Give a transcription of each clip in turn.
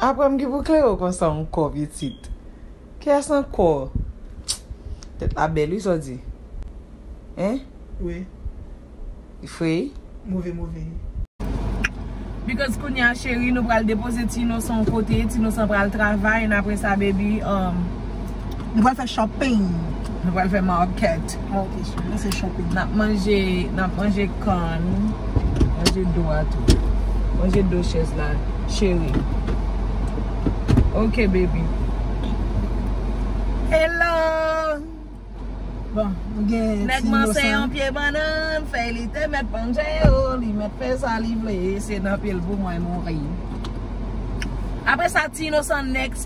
Aprem ki pou klere konsa anko pitit. Kiyes anko? Tet la bel wi sa w di. Hein? Wi. Li fre wi. Move move. Because kounya cheri nou pral depoze ti inosan yon kote, ti inosan pral travay and apresa baby um. Nou pral fè shopping. Nou pral fè market. Ok cheri, nou se shopping. Nap manje, nap manje corn. Manje do a tou. Manje do chez la cheri. Ok baby. Hello! Bon, nou gen ti inosan. Nèg manse yon pye banann, fèy li te mèt panche yo, li mèt fè sa li vle, se nan pye l pou mwen mouri. Apre sa ti inosan next.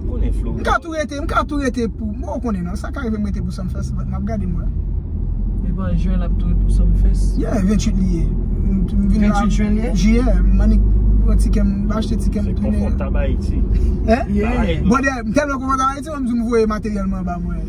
Ou konnen Florida. M ka tou rete, m ka tou rete pou, bon ou konnen nan, sa ka rive m rete pou Sumfest, but map gade mwen. Li pran jwen lap tou pou Sumfest. Yeah, 28 li ye. M vin la. 28 jwen li ye? Jiyè, m annik pran tikè m, m achte tikè m tounen. Se konfòtab Ayiti. Hein? Yeah. Bòdè, m tèlman konfòtab Ayiti, m annik m voye materyèl m anba mwen.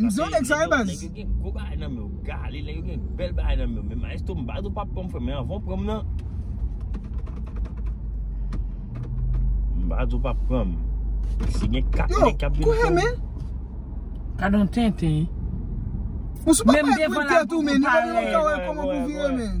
M zon nèg sa wi baz. Nèg yo gen gwo bagay nan men yo gale nèg yo gen bèl bagay nan men yo men maestro m baz ou pa pranm frèm men anvan w pranm nan m baz ou pa pranm si gen 4 nèg k ap vin pranm. Yo kou he men. Gadon tenten. Ou sou pa pale pou tèt ou men nou pa menm ka wè kòman pou vire men.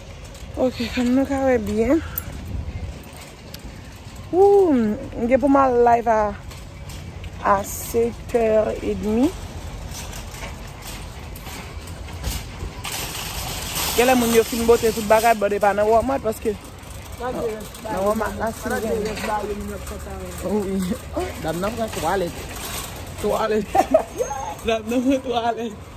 Ok fanm nou ka wè byen. Ooh m gen pou m al live a a 7 heure et demi. Gen lè moun yo fin bote tout bagay but e pa nan walmart paske nan walmart la si l gen. Dam nan pran twalet. Twalet. Dam nan pran twalet.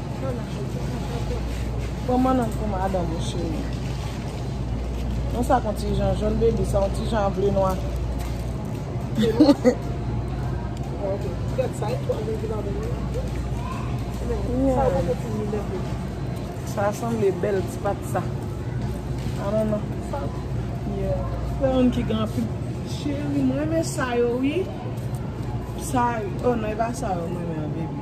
Pran mannan pou madanm ou cheri. Non sa kon ti jan jòn baby sa yon ti jan ble nwa. Sa sanble bèl ti pat sa. A non non. Sa yon ki gen anpil. Cheri m renmen sa yo wi. Sa yo. Oh non e pa sa yo m renmen an baby.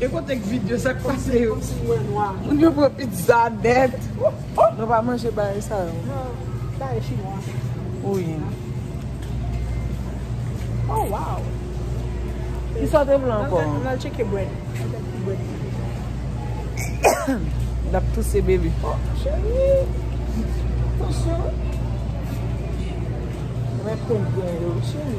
E kote k video sak pase yo. Moun yo pran pizza net. Nou pa manje bagay sa yo. Non bagay chinwa. Ui. Oh wow. Kisa te vle anko. An al cheke bread. Lap touse baby. Oh cheri. Attention. Mwen pran gen yo cheri.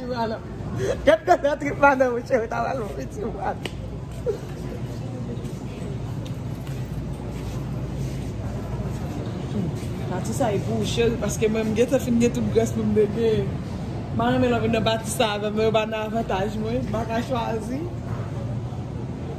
Gad gad nan trip madanm ou cheri ta pral mouri ti mat. Pati sa e pou ou cheri paske mwen m gentan fin gen tout grès pou m bebe. Mwen renmen lè w vin nan pati sa avè m men yo pa nan avantaj mwen m pa ka chwazi.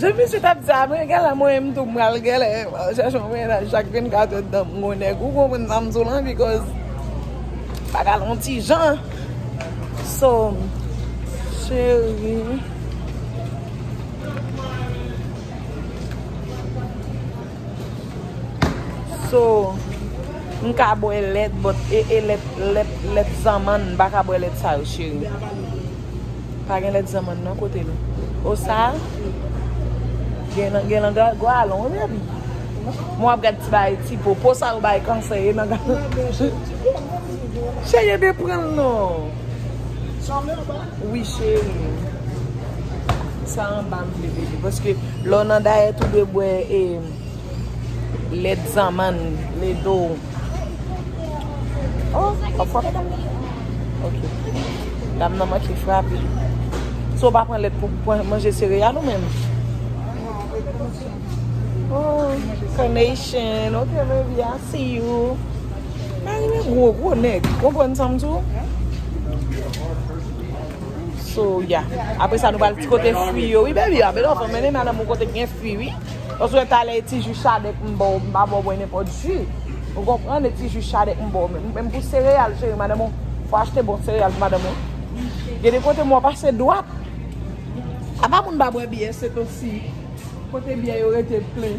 Jan misye tap di apre gèlè mwen menm tou m pral gèlè m al chèche yon mennaj chak 24 èd tan m gon nèg ou konprann sa m di w lan because bagay la yon ti jan so cheri. So, m ka bwè lèt but ee lèt, lèt, lèt zanmann, m pa ka bwè lèt sa yo cheri. Pa gen lèt zanmann non kote nou. O sa? Gen nan, gen nan ga, galon wi baby. Mwen ap gad ti bagay ti po. Po sa yo bay kansè ye nan galon. Cheri e de pran l non. Wi cherim Sa anba m vle bebe paske lè w nan dayèt ou dwe bwè e lèt zanmann lè do w Oh wap fwa fèt anba Ok Dam nan manke frape So w pa pran lèt pou manje sereyal ou menm Oh Carnation Ok baby I see you Mari m gwo gwo nèg Konprann sa m di w? So ya. Apre sa nou pral ti kote fwi yo wi baby. Ape lò fò mennen madanm ou kote gen fwi wi. Osou e talè e ti ju chadèk m baw m pa baw bwè nenpòt ju. Ou konprann e ti ju chadèk m baw menm. Menm pou sereyal cheri madanm ou fò achte bon sereyal pou madanm ou. Gen de kote m wè w pase dwat. Apa moun pa bwè byè se to si. Kote byè yo rete plen.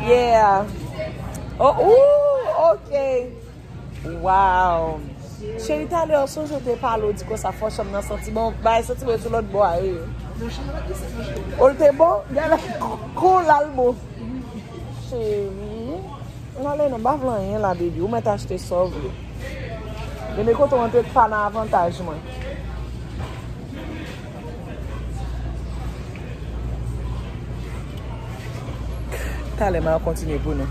Yeah Oh ooh ok Waww Cheri talè ou sonje ou te pale ou di konsa fò chanm nan santi bon Bagay santi bon sou lòt bò a wi Ou l te bon? Gade la Kou l al bon Cheri N ale nan m pa vle anyen la baby ou mèt achte sa w vle Gade kote w antre k pa nan avantaj mwen. Talè mwen ap kontinye pou nou.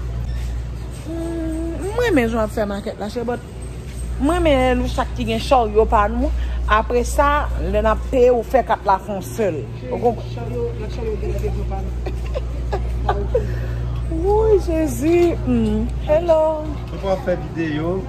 Mwen renmen jan yo ap fè makèt la chè but. Mwen renmen lè nou chak ki gen charyo pa nou. Apre sa, lè n ap peye ou fè kat la fè yon sèl. Ou konprann? Charyo, lòt charyo gen lè gen vre pa nou. Wouyy Jezi. Hello. Mwen pa fè videyo.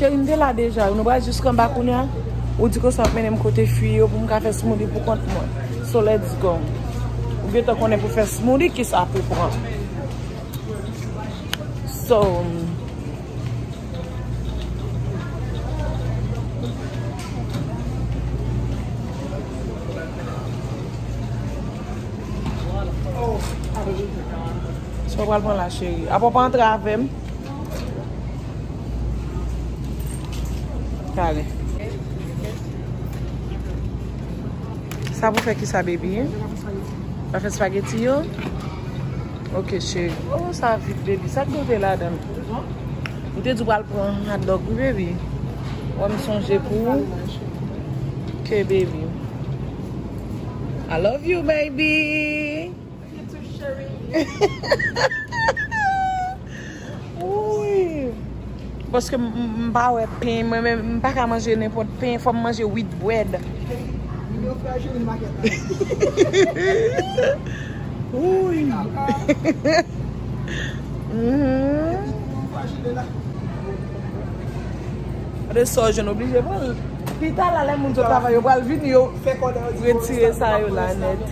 Cheri m te la deja wi, nou pral jis anba kounye a, ou di ke sa ap mennen m kote fi yo pou m ka fè smoothie pou kont mwen, so let's go. Ou gentan konnen pou fè smoothie kisa pou pran. So, Sa w pral pran la cheri. Apa w pa antre avè m? Tale. Sa pou fè ki sa baby? Pou fè spaghetti yo? Ok cheri. Oh sa vit baby. Sa ki nou te la dan? Ou te di w pral pran hot dog wi baby. Wè m sonje pou ou. Ok baby. I love you baby. Paske m pa wè pen, mwen men m pa ka manje nenpòt pen, fò m manje wheat bread. Gade sa w jwenn, w oblije pran l. Pita la lè moun sot travay yo pral vini yo retire sa yo la nèt.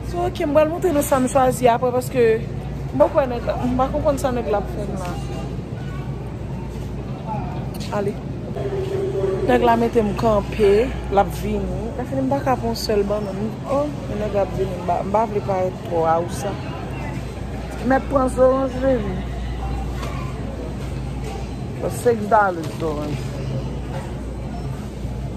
So ok m pral montre nou sa m chwazi aprè paske m poko wè nèg la m pa konprann sa nèg la ap fè m la ale nèg la mete m kanpe lap vini lè fini m paka pran yon sèl bannann oh yon nèg ap vini m pa vle parèt twò awousa mèt pran zoranj vini se 5 dollars zoranj.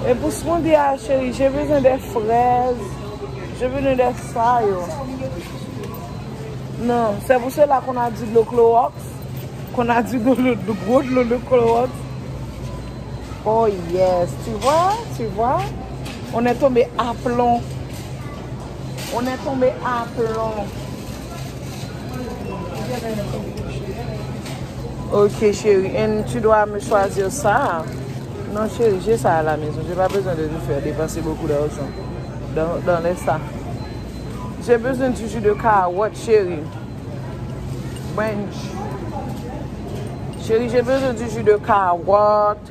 E pou smoothie a cheri, je bezwen de frèz, je bezwen de sa yo. Non, se pou sela kon a di dlo kloroks, kon a di dlo dlo dlo kloroks. Oh yes, tu vwa, tu vwa, on e tonbe aplon, on e tonbe aplon. Ok cheri en tu dwa me chwazir sa. Non cheri je sa a la mezon. Je pa bezwen de te fè depanse bokou dajan. Dan lè sa. Je bezwen di ju de kawot cheri. Mwen. Cheri je bezwen di ju de kawot.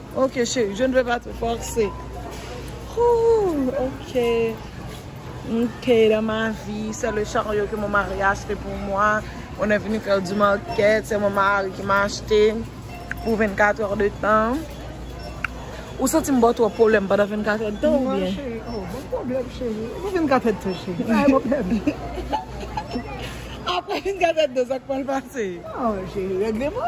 Ok chérie je ne veux pas te forcer Ooh ok Ok dans ma vie c'est le chariot que mon mari a acheté pour moi On est venu faire du market c'est mon mari qui m'a acheté Pour 24 heures de temps Ou santi m ba w twòp pwoblèm pandan 24 èd tan oubyen? Non cheri, oh bon pwoblèm cheri, e pou 24 èd tan cheri, pa gen pwoblèm. Aprè 24 èd tan sa k pral pase? Oh cheri, règleman.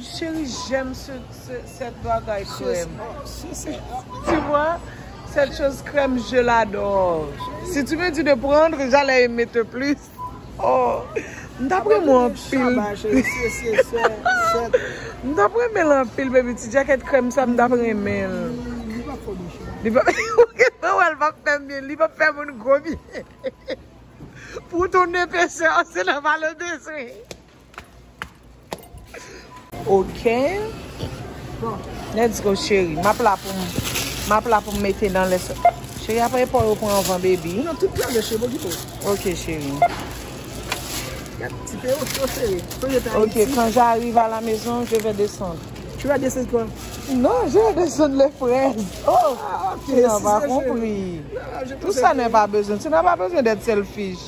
Cheri j'aime cette bagay krèm. Tu vois cette chose crème je l'adore. Si tu me dis de prendre j'allais aimer te plus. M tap renmen w anpil. M tap renmen l anpil baby. Ti jacket krèm sa m tap renmen l. Li pap fè bouche m. Li pap fè wè l pap fè m byen. Li pap fè moun gwo byen. Pou ton epaisseur se nan valeur de soins. Ok. Bon. Let's go cheri. Map la pou m. Map la pou m mete nan lè sa. Cheri apa e pa ou pran anvan baby. Nan tout la lè cheri bo gito. Ok cheri. Yap ti pe ou tro seri. Ok kan ja rive a la mezon je ve desan. Tu va desan kwa? Non je ve desan le frez. Oh. Ti nan va konpri. Pou sa nan va bezon. Ti nan va bezon det selfish.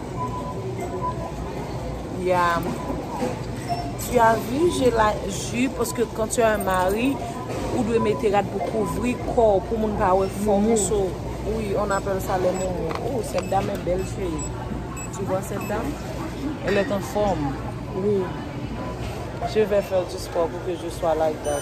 Ya Tu as vu j'ai la ju paske kan tu as un mari ou dwe mete rad pou kouvri kòw pou moun pa wè fò moun so wi on apèl sa lè moun oh cette dame est belle chéri tu vois cette dame elle est en forme wi je vais faire du sport pour que je sois like that.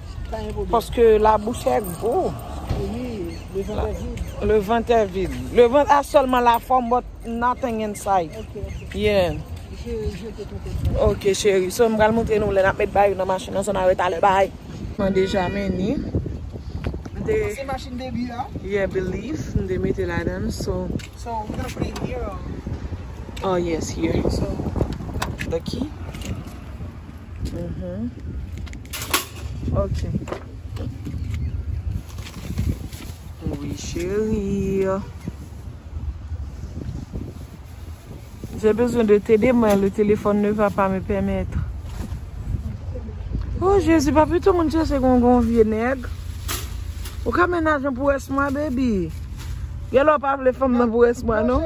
Paske la bouch è gwo. Le vant è vid. Le vant a sèlman la fòm but nothing inside. Yeah. Ok cheri. So m pral moutre nou lè n ap met bagay yo nan machin nan. So nan retalè. Bye. Mwen deja men ni. M te. Pase machin baby a. Yeah belief. M te mete ladan l. So. So we gonna put it here or. Oh yes here. So. The key. Uhmm ok. Wi cherie. J'ai besoin de tes de mains le téléphone ne va pas me permettre. Oh Jésus pa pito moun chèche kon gon vye nèg. Ou ka menaje m pou rès mwa baby. Gèlè w pa vle fè m nan pou rès mwa non.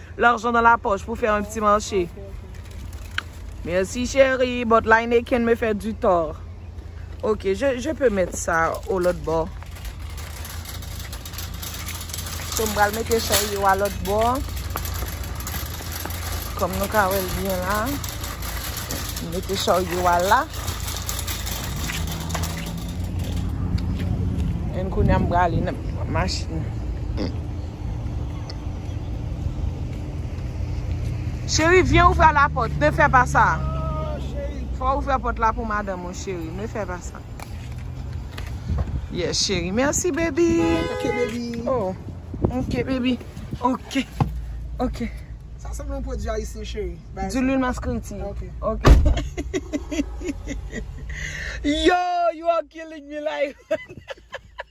L'argent dans la poche pou fè un petit marché. Merci chérie, but l'Heineken me fait du tort. Ok, je peux mettre ça au l'autre bord. So m pral mete chay yo a l'autre bord. Kom nou ka wèl byen la. M mete chay yo a la. En kounye a m prale nan machine. Cheri vyen ouvra la pot ne fè pa sa. Fò ouvra pot la pou madanm ou cheri ne fè pa sa. Yes cheri merci baby. Ok baby. Oh ok baby ok ok. Sa sanble yon pwodwi ayisyen cheri. Du lwil maskreti. Ok ok. Yo you are killing me like.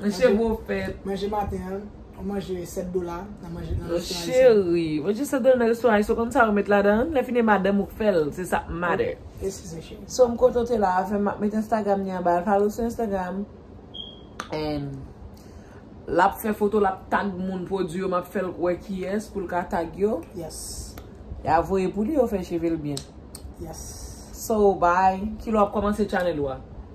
Manje bro fèt. Manje maten an. Ou manje 7 dola. Nan manje nan restoran ayisyen. Cheri. Manje 7 dola nan restoran ayisyen. Ou konn sa yo met ladan. Lè fini e madanm ou k fèl. Se sa k matter. Eskize cheri. So m kontan w te la avè m. M ap met Instagram li anba. Al follow sou Instagram. And. L ap fè foto. L ap tag moun pwodwi yo. M ap fè l wè kiyès pou l ka tag yo. Yes. E a voye pou li yo fè cheve l byen. Yes. So bye. Kilè w ap kòmanse channel ou a?